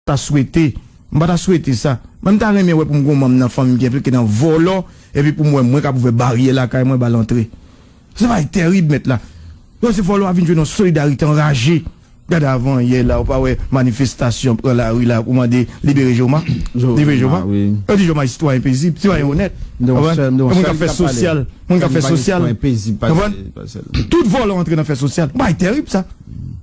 ta swete, m pa ta swete sa, men m ta renmen wè pou m gen yon manm nan fanmi m ki enplike nan vòlò epi pou m wè mwen k ap ouvè baryè lakay mwen ba l antre. Se bagay tèrib mèt la. Yo se vòlò a vin jwenn yon solidarite anraje. Gade avanyè la ou pa wè manifestasyon pran lari la pou mande libere Joma. Libere Joma. Yo di Joma se sitwayen pezib, sitwayen onèt. Konprann? Moun k ap fè sosyal. Moun k ap fè sosyal. Konprann? Tout vòlò antre nan fè sosyal. Bagay tèrib sa.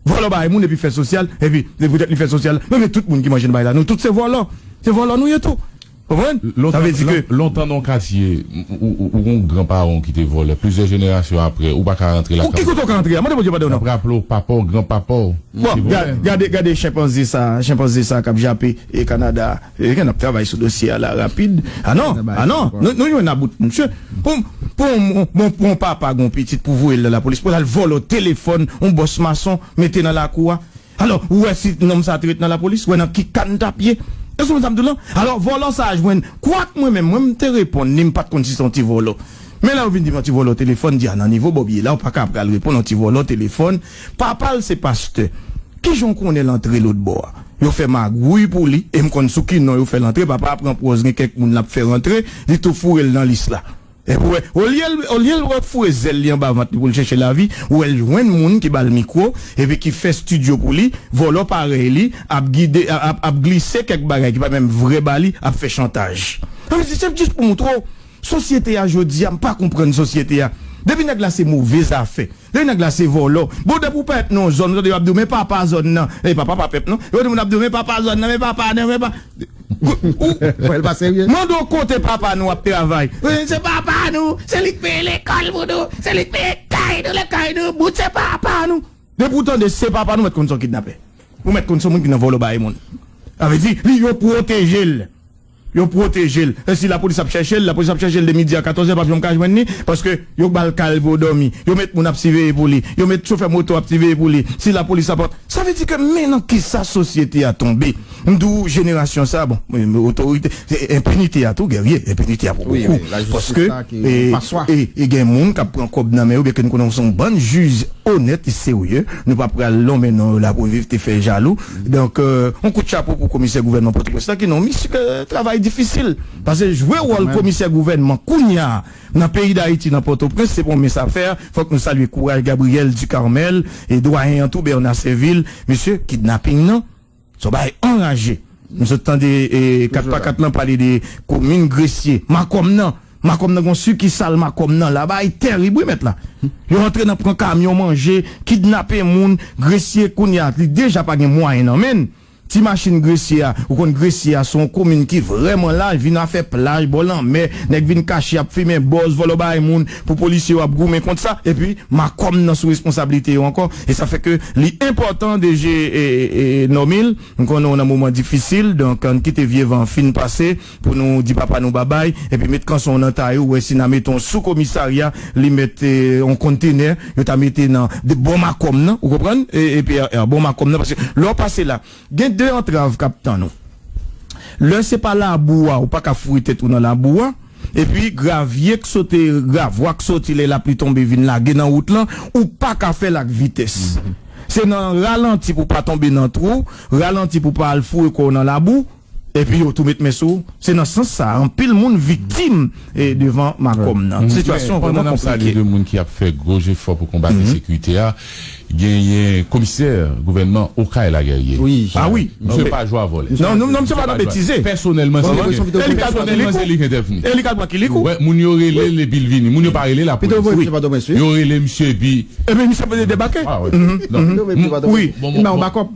Vòlò bay moun epi fè sosyal epi se poutèt li fè sosyal la men tout moun ki manje nan bay la nou tout se vòlò se vòlò nou ye tou konprann sa vle di ke. Lontan nan yon katye ou gen yon gran paran w ki te vòlè plizyè jenerasyon aprè ou pa ka rantre lakay w. Ki kote w ka rantre a mande Bondye padon non. Nap raple w papa w gran papa w te vòlè. Bon gade gade chenpanze sa chenpanze sa kap jape Canada a. Eske nap travay sou dosye a la rapid? Ah non! Ah non! Nou jwenn about misye. Pou pou yon papa gen yon pitit pou voye l nan lapolis pou l al vòlò telefòn yon bòs mason mete nan lakou a. Alò ou wè si nonm sa te ret nan lapolis? Ou wè nan ki ka n tap ye? Ou konprann sa m di w lan? Alò vòlò sa jwenn kwak mwen menm m te reponn li m pat konn si se yon ti vòlò. Men la yo vin di m yon ti vòlò telefòn m di a nan nivo Bòb ye la ou paka pral reponn yon ti vòlò telefòn. Papa l se pastè. Kijan w konnen l antre lotbò a? Yo fè magwouy pou li e m konn sou ki non yo fè l antre. Papa a pran pòz gen kèk moun l ap fè rantre, li tou foure l nan lis la. Epi wè, olye l olye l wè foure zèl li anba vant li pou l chèche lavi, ou wè l jwenn moun ki ba l mikwo epi ki fè stidyo pou li, vòlò parèy li ap gide ap ap glise kèk bagay ki pa menm vrè ba li, ap fè chantaj. An men se jis pou moutre w. Sosyete a jodi a m pa konprann sosyete a depi nèg la se move zafè depi nèg la se vòlò bon depi ou parèt nan yon zòn ou tande yo ap di w men papa zòn nan e papa pa pèp non epi moun ap di w men papa zòn nan men papa nan men pa ou mande w kote papa nou ap travay ou di se papa nou se li k peye lekòl pou nou se li k peye kay nou lè kay nou bout se papa nou depi ou tande se papa nou mèt konn se yon kidnapè ou mèt konn se yon moun ki nan vòlò bagay moun sa vle di li yo pwoteje l. Yo pwoteje l. Si lapolis ap chèche l, lapolis ap chèche l de midi a katòzè, l pap janm ka jwenn li, paske yo ba l kay pou yo dòmi, yo met moun ap siveye pou li, yo met chofè moto ap siveye pou li, si lapolis ap. Sa vle di ke men nan kisa sosyete a tonbe. M di w jenerasyon sa, bon, otorite, enpinite a tou Guerrier, enpinite a pou bokou, paske e gen moun k ap pran kòb nan men yo, byen ke nou konnen yo se yon bann jij onèt e serye, nou pa pral lonmen non yo la pou viv te fè jalou. Donk yon kout chapo pou komisè gouvènman Pòtoprens lan ki nan yon misy travay difisil. Pase jwe wòl komisè gouvènman kounya nan peyi Dayiti nan Pòtoprens se pa yon mens afè. Fòk nou salye kouraj Gabriel Ducarmel e dwayen an tou Bernard Servil. Mesye kidnaping nan se yon bagay anraje. M sot tande 4 pa 4 lan pale de komin Gresye, Makòm nan. Makom nan gon sukisal makom nan la bagay terib wi mèt la yo antre nan pran kamyon manje kidnape moun gresye kounya li deja pa gen mwayen nan menn ti machin gresye a ou konn gresye a son komin ki vrèman laj vin afè plaj bò lanmè nèg vin kache ap fimen bòz vòlò bay moun pou polisye yo ap goumen kont sa epi makom nan sou responsabilite yo ankò e sa fè ke li enpòtan deje Normil m konnen w nan moman difisil donk ann kite vye van fin pase. Pou nou di papa nou babay epi met kanson nan tay ou wè si na mete w sou komisarya li mèt on kontenè yo ta mete nan de bò makom nan ou konprann EPRR bò makom nan paske lè w pase la gen de antrav k ap tann ou lè se pa labou a ou pa ka foure tèt ou nan labou a epi gravye k sote gravwa k soti lè lapli tonbe vin lage nan wout lan ou pa ka fè l ak vitès se nan ralanti pou w pa tonbe nan twou ralanti pou w pa al foure kò w nan labou. Epi yo tou met men sou ou. Se nan sans sa a anpil moun viktim devan Makom nan. Sitiyasyon an vrèman konplike. Gen moun ki ap fè gwo jefò pou konbat ensekirite a. Genyen komisè gouvènman Okay la Guerrier. A wi. Misye pa jwe a vòlè. Non, non, misye pa nan betize. Pèsonèlman se li k. Pèsonèlman se li k entèvni. E li k al pran kilikou. Wè, moun yo rele l epi l vini. Moun yo pa rele lapolis. Yo rele misye epi. Epi misye debake. Wi. Li bay yon bakòp.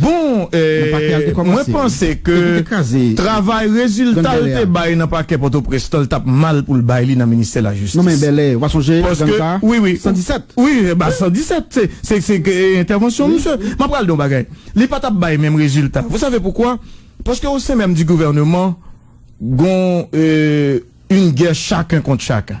Bon mwen panse ke travay rezilta l te bay nan pakè pòtoprens lan l tap mal pou l bay li nan ministè lajistis paske wi wi wi ba 117 se ke entèvansyon misye map pral di yon bagay li pa tap bay menm rezilta vou save poukwa paske o sen menm di gouvèneman gon yn gè chaken kont chaken.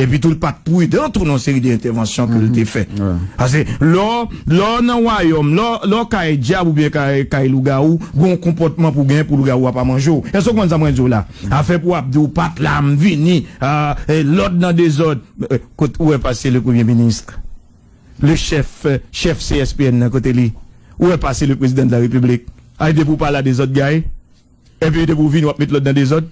Epi tou l pa t pridan tou nan yon seri de entèvansyon ke l te fè. Pase lè w nan wayòm, lè w kay dyab oubyen kay lougawou, gen yon konpòtman pou w genyen pou lougawou a pa manje w. Èske w konprann sa mwen di w la? Afè pou w ap di w pa t la, m vini, lòd nan dezòd. Kot ou wè pase le premye minis, le chèf, chèf CSPN nan kote li? Ou wè pase le prezidan de la repiblik? Ay depi w pa la dezòd gaye? Epi depi ou vini wap met lòd nan dezòd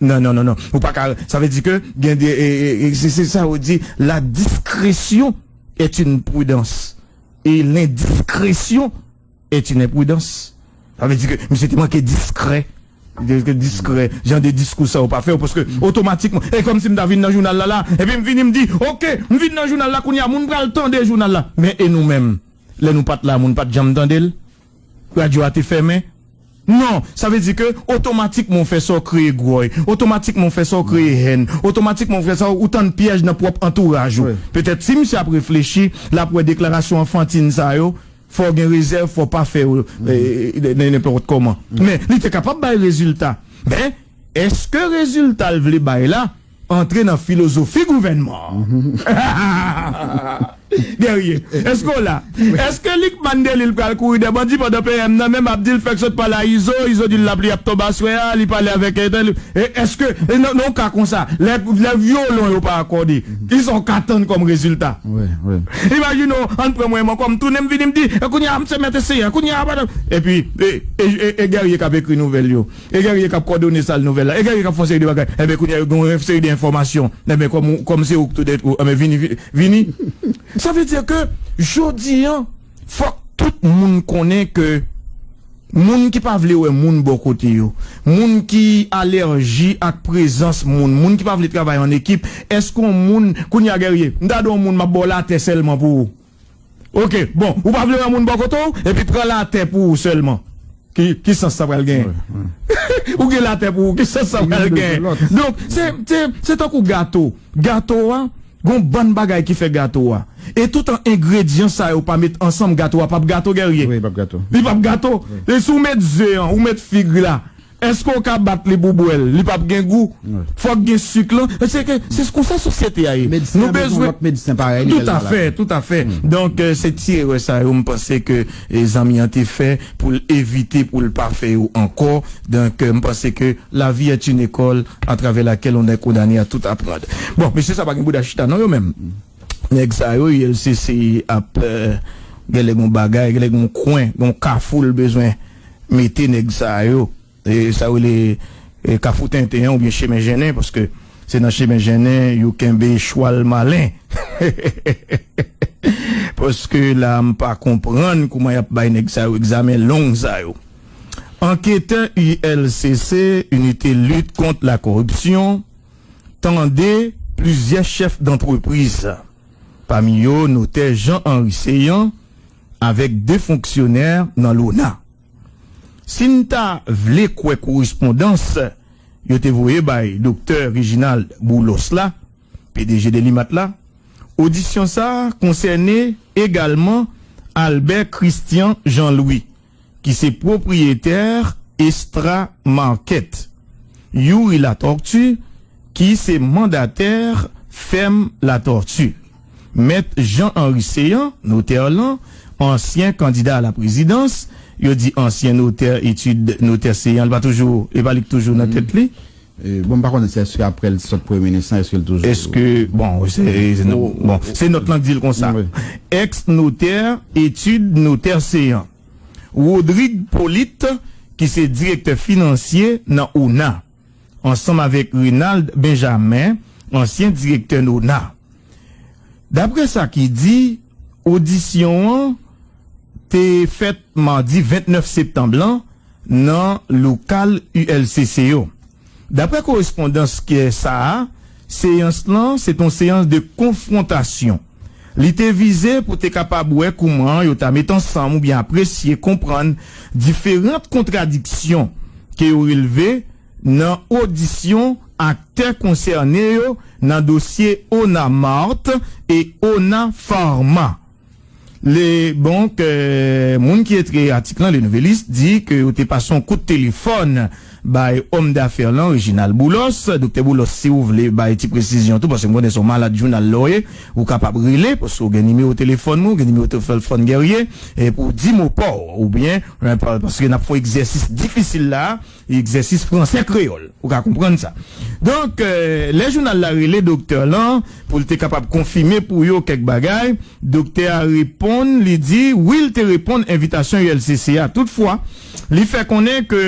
nan nan nan ou paka sa vle di ke gen de se se sa yo di la diskresyon est une prudans e lendiskresyon est une enprudans sa vle di ke misye te manke diskrè ke diskrè jan de diskou sa yo pa fèw paske otomatikman e kòmsi mta vin nan jounal la la epi mvini mdi ok mvin nan jounal la kounya moun pral tande jounal la men e nou menm lè nou pat la moun pat janm tandel. Radyo a te fèmen? Non! Sa vle di ke otomatikman ou fè sa ou kreye gròy, otomatikman ou fè sa ou kreye hèn, otomatikman ou fè sa ou tann pyèj nan pwòp antouraj ou. Petèt si misye ap reflechi, l ap wè deklarasyon anfantin sa yo, fò w gen rezèv, fò w pa fè yo nenpòt kòman. Men, li te kapab bay rezilta. Men, èske rezilta l vle bay la. Antre nan filozofi gouvènman an. Guerrier, èske w la? Èske Lucmane Delille pral kouri dè bandi pandan PM nan menm ap di l fèk sot pale a Izo, Izo di l lapli ap tonbe aswè a, li pale avèk entèl, èske nan yon ka konsa, lè vyolon yo pa akòde, kisa w ka tann kòm rezilta? Imajine w, an n pran mwen m ankò, m tounen m vini m di, e kounye a m se mèt e seyè, kounye a, epi e Guerrier k ap ekri nouvèl yo. E gen rie kap kòdone sal nouvèl la e gen rie kap fon seri de bagay enben kounya yo gen yon ren seri de enfòmasyon enben kòm ou kòm se ouk tou dèt ou enben vini vini sa vle di ke jodi an fòk tout moun konnen ke moun ki pa vle wè moun bò kote yo moun ki alèji ak prezans moun moun ki pa vle travay an ekip èske yon moun kounya gen rie m ta di yon moun map ba w latè sèlman pou Ok bon ou pa vle wè moun bò kote w epi pran latè pou ou sèlman ki sans sa pral genyen ou gen latè pou ou ki sans sa pral genyen donk se tankou gato gato a gon bann bagay ki fè gato a e toutan engredyan sa yo pa met ansanm gato a pap gato Guerrier li pap gato si ou met ze an ou met fig la. Eske w ka bat li pou w bwè l? Li pap gen gou. Fòk gen suk lan. Se ke, se konsa sosyete a ye. Medsen an bezwen lòt medsen parèy li lè l malad. Tout afè, tout afè. Donk, se ti erè sa yo m panse ke zanmi an te fè pou l evite pou l pa fè yo ankò. Donk, m panse ke la vie est une école à travers laquelle on est condamné à tout apprendre. Bon, mesye sa pa gen bouda chita non yo menm. Nèg sa yo ULCC ap, genlè gen yon bagay, genlè gen yon kwen, gen yon kafou l bezwen. mete nèg sa yo sa yo rele kafou tenten an oubyen chemen jennen paske se nan chemen jennen yo kenbe chwal malen paske la a m pa konprann kouman y ap bay nèg sa yo egzamen long sa yo. Anketè ULCC, Unité Lutte Contre la Corruption, tande plizyè chèf dantrepriz, pami yo notè Jean Henry Céant, avèk 2 fonksyonè nan lona. Si n ta vle kwè korespondans yo te voye bay doktè Reginald Boulos la, pdg Delimat la, odisyon sa a konsène egalman Albert Christian Jean Louis, ki se pwopriyetè Estra Market, Youri Latortue, ki se mandatè fèm Latortue, Mèt Jean Henry Céant, notè lan, ansyen kandida a la prezidans, yo di ansyen notè etid notè Céant li pa toujou, e pa li ki toujou nan tèt li. Bon m pa konnen si eske aprè l sot premye minis lan eske l toujou. Eske bon se bon se nòt lan k di l konsa ex notè etid notè seyan Rodrig Polit ki se direktè finansye nan ona ansanm avèk Renald Benjamin ansyen direktè nona daprè sa ki di odisyon an te fèt madi 29 septanm lan nan lokal ULCC yo. Daprè korespondans KESA a, seyans lan se t on seyans de konfwontasyon. Li te vize pou te kapab wè kouman yo ta met ansanm oubyen apresye konprann diferant kontradiksyon ke yo relve nan odisyon aktè konsène yo nan dosye Onamart e Ona Pharma. Le Bon ke moun ki ekri atik lan, Le Nouvelliste, di ke yo te pase yon kout telefòn bay òm dafè lan, Reginald Boulos. Doktè Boulos, si ou vle bay ti presizyon tou, paske m konnen se yon malad jounal la ou ye, ou kapab rele, paske ou gen nimewo telefòn mwen, ou gen nimewo telflfòn Guerrier, pou w di mo pa w, oubyen, paske n ap fè yon egzèsis difisil la a. Egzèsis fransè-kreyòl, ou ka konprann sa. Donk, lè jounal la rele doktè lan pou l te kapab konfime pou yo kèk bagay, doktè a reponn, li di, wi l te reponn envitasyon ULCC a, toutfwa, li fè konnen ke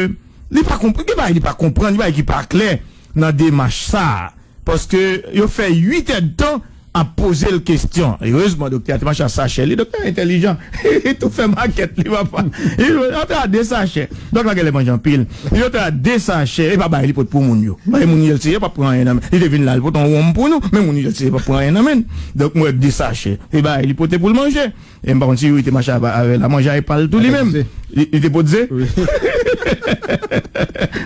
li pa konprann, gen bagay li pa konprann, gen bagay ki pa klè. nan demach sa a, paske yo fè 8 èdtan ap poze l kestyon. Erezman doktè a te mache a sachè li. Doktè a entèlijan, li tou fè makèt li, papa. Li di, Antre a de sachè. Dòk la genlè manje anpil. Li di, Antre a de sachè. Epa bay li pot pou moun yo. Bay moun yo l se yo p ap pran anyen nan men l. Li te vin la, li pote yon wonm pou nou, men moun yo l se yo p ap pran anyen nan men l. Dòk m wè de sachè. Li bay li pote pou l manje. E m pa konn si Youri te mache aba avè l a manje a e pa l tou li menm. Li te pot ze.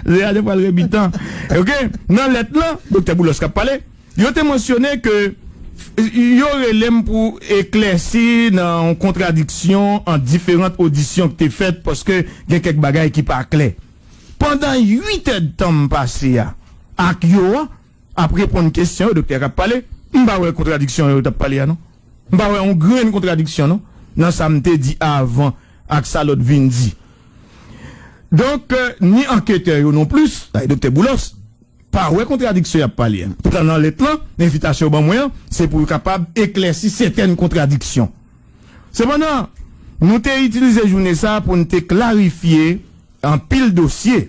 Ze a te pral rebitan. Ok, nan lèt lan, Doktè Boulos k ap pale, yo te mansyone ke yo rele m pou eklèsi nan yon kontradiksyon ant diferant odisyon k te fèt paske gen kèk bagay ki pa klè. Pandan uitèdtan m pase a ak yo an, Ap reponn kesyon yo doktè kap pale m pa wè kontradiksyon yo tap pale a non m pa wè yon grenn kontradiksyon non nan sa m te di avan ak sa lòt vin di donk ni anketè yo non plis sa e doktè Boulos pa wè kontradiksyon yap pale a poutan nan lèt lan envitasyon yo ban mwen an se pou yo kapab eklèsi sètèn kontradiksyon sepandan nou te itilize jounen sa pou n te klarifye anpil dosye.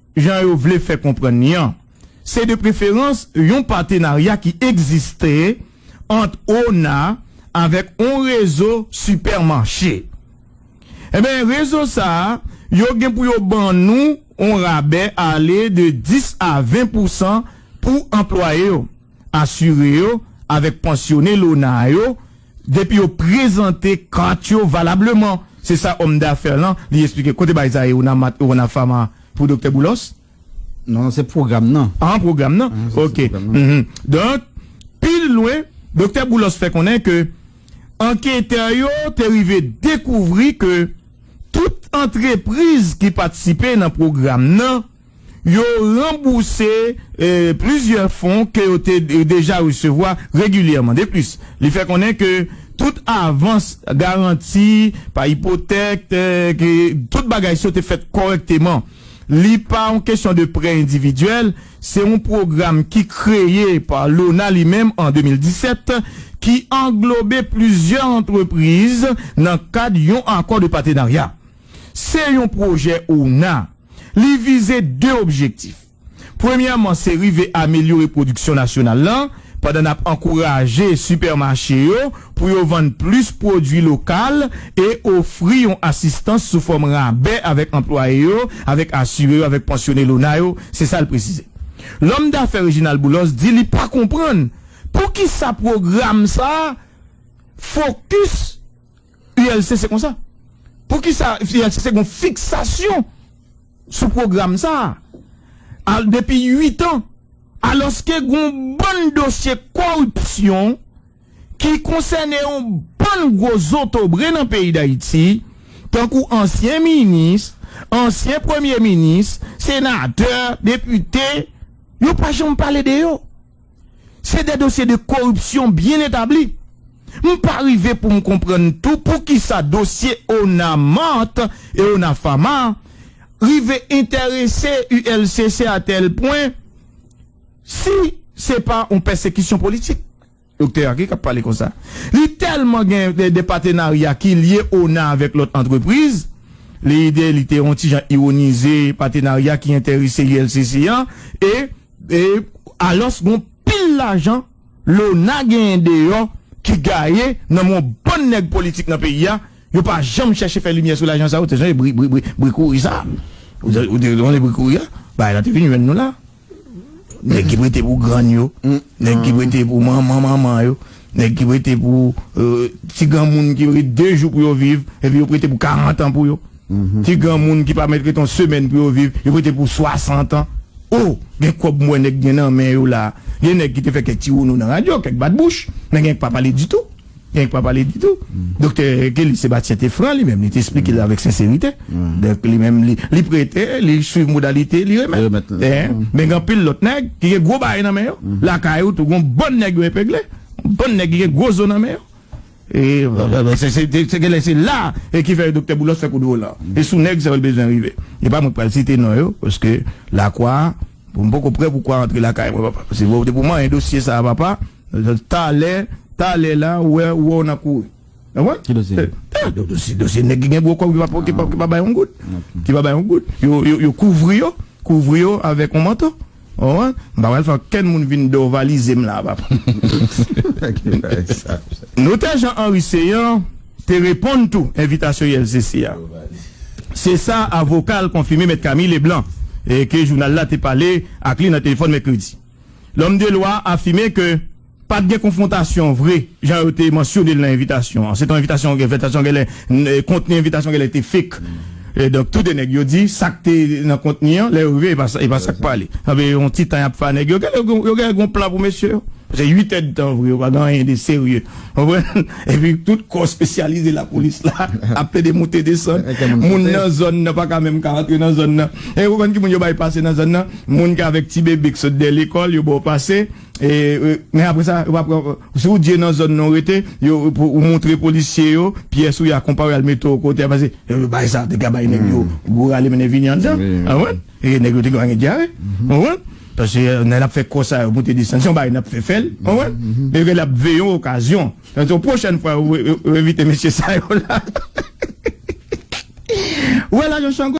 Jan yo vle fè konprann li an, se de preferans yon patenarya ki egziste ant ona avèk on rezo sipèmache. Enben, rezo sa yo gen pou yo ban nou on rabè ale de 10 a 20 pousan pou anplwaye yo, asire yo avèk pansyone lona yo, Depi yo prezante kat yo valableman, se sa òm dafè lan li esplike. Kote bagay sa ye Unamat Urona Pharma pou Doktè Boulos? Non, non, se pwogram nan. Ah, pwogram nan. Ok. Donk, pi lwen, Doktè Boulos fè konnen ke anketè yo te rive dekouvri ke tout antrepriz ki patisipe nan pwogram nan, Yo ranbouse plizyè fon ke yo te deja resevwa regilyèman. De plis, li fè konnen ke tout avans, garanti, pa ipotèk, ke tout bagay sa yo te fèt kòrèkteman. Li pa yon kesyon de prè endividyèl, se yon pwogram ki kreye pa Lona li menm an 2017, ki anglobe plizyè antrepriz nan kad yon akò de patenarya. Se yon pwojè OUNA. Li vize 2 objektif. Premyèman se rive amelyore pwodiksyon nasyonal lan pandan n ap ankouraje sipèmache yo pou yo vann plis pwodui lokal e ofri yon asistans sou fòm rabè avèk anplwaye yo, avèk asire yo, avèk pansyone l'OUNA yo, se sa l presize. Lòm dafè Reginald Boulos di li pa konprann poukisa pwogram sa a fokis. ULCC konsa? Poukisa ULCC gon fiksasyon sou pwogram sa a al depi 8 an alòske gon bann dosye koripsyon ki konsène yon bann gwo zotobre nan peyi Dayiti tankou ansyen minis, ansyen premye minis, senatè, depite, yo pa janm pale de yo. Se de dosye de koripsyon byen etabli. M pa rive pou m konprann tou poukisa dosye Ona Mart e Ona Pharma rive enterese ULCC a tèl pwen si se pa yon pèsekisyon politik. Doktè a ki k ap pale konsa? Li tèlman gen de patenarya ki lye Ona avèk lòt antrepriz, Leide li te yon ti jan ironize patenarya ki enterese ULCC an e E alos gon pil lajan Lona genyen deyo ki gaye nan men yon bann neg politik nan peyi a, yo pa janm cheche fe limye sou lajan sa yo, te sonje bri bri bri kouri sa, ou te sonje bri kouri a, bagay la te vin jwenn nou la, neg ki prete pou grann yo, neg ki prete pou manman manman yo, neg ki prete pou ti granmoun ki rete 2 jou pou yo viv epi yo prete pou 40 an pou yo. Ki granmoun ki pa mèt ret yon semèn pou yo viv, yo mete pou 60 an. Oh! Gen kòb m wè nèg gen nan men yo la. Gen nèg ki te fè kèk ti wounou nan radyo, kèk bat bouch, men gen k pa pale ditou. Gen k pa pale ditou. Doktè Kelly Sébastien te fran li menm, li te esplike l avèk senserite. Donk li menm li, li prete, li swiv modalite, li remèt. Men gen anpil lòt nèg ki gen gwo bagay nan men yo. Lakay ou tou, gen yon bann nèg yo epegle. Yon bann nèg ki gen gwo zo nan men yo. Se genlè se la a ki fè Doktè Boulos fè kout volan. E sou nèg sa yo l bezwen rive. E pa mwen k pral site non yo paske lakwa a, m poko prè pou kwa antre lakay mwen papa. Se wè w depi w manyen dosye sa a papa, talè, talè la ou wè w nan kouri. Ou konprann? Ki dosye? Dosye, dosye nèg ki gen gwo kòb ki pa bay yon goud. Ki pa bay yon goud. Yo kouvri yo, kouvri yo avèk yon manto. Oh an m pa pral fè ankenn moun vin dorvalize m la papa. Notè Jean Henry Céant te reponn tou envitasyon ULCC a. Se sa avoka l konfime mèt Camille Leblanc ke jounal la te pale ak li nan telefòn mèkredi. Lòm de lwa a afime ke. Pa t gen konfwontasyon vre, jan yo te mansyone l nan envitasyon an. Se te yon envitasyon, envitasyon genlè, kontni envitasyon an genlè te fake. Donk, tou de nèg yo di sa k te nan kontni an, lè yo rive, e pa sa k pale. Anpi, yon ti tan y ap fè a nèg yo, genlè yo gen, yo genlè gen yon plan pou mesye yo. Paske uit èdtan vre, yo pa gen anyen de serye. Ou konprann? Epi, tout kò espesyalize lapolis la ap plede moute desann. Moun nan zòn nan pa ka menm ka rantre nan zòn nan. E ou konn ki moun yo bay pase nan zòn nan? Moun ki avèk ti bebe k sot dèyè lekòl, yo ba w pase. Men apre sa, yo pa pran. Si ou di e nan zòn nan ou rete, yo pou ou montre polisye yo pyès ou ya konpa ou yal mete ou kote a pase yo yo bay sa te ka bay nèg yo gwo rale mennen vini anndan ou konprann e nèg yo te ka gen dyare ou konprann pase nèg lap fè kò sa yo monte desann se yon bagay nap fè fèl ou konprann e ke lap veye yon okazyon se yon pwochèn fwa yo yo envite mesye sa yo la ou wè lajan shango.